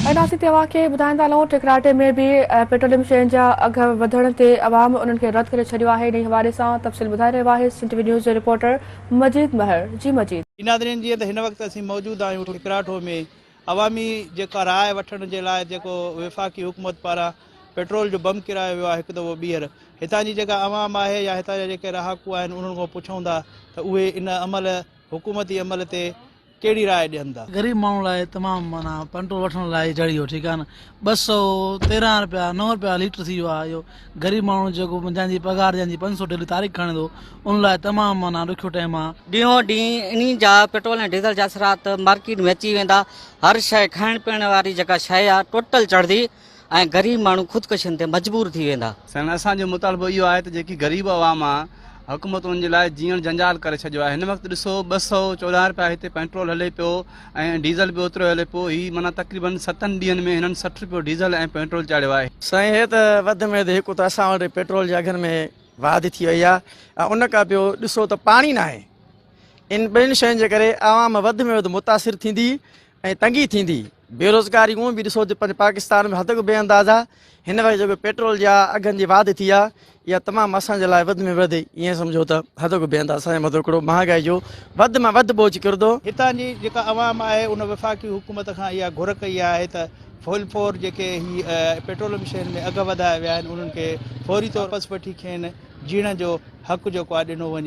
اڃا اسين توهان کي ٻڌائيندا هلون ٺڪراٽي ۾ به پيٽروليم شين جا اگهه وڌڻ تي عوام انهن کي رد ڪري ڇڏيو آهي انهي حوالي سان تفصيل ٻڌائي رهيو آهي سنڌ ٽي وي نيوز جو رپورٽر مجيد مهر جي مجيد. جي ناظرين جيئن ته هن وقت اسين موجود آهيون ٺڪراٺو ۾ عوامي جيڪا راء وٺڻ جي لاء جيڪو وفاقي حڪومت پاران پيٽرول جو بم ڪرايو ويو آهي هڪ دفعو ٻيهر هتان جي جيڪا عوام آهي يا هتان جا جيڪي رهاڪو آهن انهن کان پڇون ٿا ته اهي ان عمل حڪومتي عمل تي ڪهڙي راء ڏين ٿا؟ غريب ماڻهو لاء تمام معنيٰ پنٽرول وٺڻ لاء جهڙي هو ٺيڪ آهي نه ٻه سئو تيرنهن رپيا نو رپيا ليٽر ٿي ويو آهي اهو غريب ماڻهو جيڪو جنهنجي پگهار جنهنجي پنج سئو ڊيلي تاريخ کڻي ٿو ان لاء تمام معنيٰ ڏکيو ٽيم آهي. ڏينهون ڏينهن انهي جا پيٽرول ۽ ڊيزل جا اثرات مارڪيٽ ۾ اچي ويندا هر شيء کائڻ پيئڻ واري جيڪا شيء آهي ٽوٽل چڙهندي ۽ غريب ماڻهو خودڪشين تي مجبور ٿي ويندا. سائين اسان جو مطالبو اهو آهي ته جيڪي غريب عوام آ حڪومت انهن جي لاء جيئڻ جنجال ڪري ڇڏيو آهي هن وقت ڏسو ٻه سؤ چوڏهن رپيا هتي پينٽرول هلي پيو ۽ ڊيزل به اوترو هلي پيو هي معنيٰ تقريبن ستن ڏينهن ۾ هنن سٺ رپيو ڊيزل ۽ پينٽرول چاڙهيو آهي. سائين هي ته وڌ ۾ وڌ هڪ ته اسان وٽ پيٽرول جي اگهن ۾ واڌ ٿي وئي آ ۽ ان کان پيو ڏسو ته پاڻي ناهي ان ٻن شين جي ڪري عوام وڌ ۾ وڌ متاثر ٿيندي. ۽ تنگي ٿيندي، بيروزگاري اونء به ڏسو ته پنهنجي پاڪستان ۾ حد کان بي انداز آ، هن وقت جيڪو پيٽرول جا اگهن جي واڌ ٿي آ، اها تمام اسان جي لاء وڌ ۾ وڌ ائين سمجهو ته حد کان بي انداز اسان جي مٿان هڪڙو مهانگائي جو وڌ مان وڌ ٻوجهه ڪردو. هتان جي جيڪا عوام آهي ان وفاقي حڪومت کان اها گهر ڪئي آهي ته فول فور جيڪي هي پيٽرولم شين ۾ اگهه وڌايا ويا آهن انهن کي فوري طور واپس وٺي کين جيئڻ جو حق جيڪو آ ڏنو وڃي.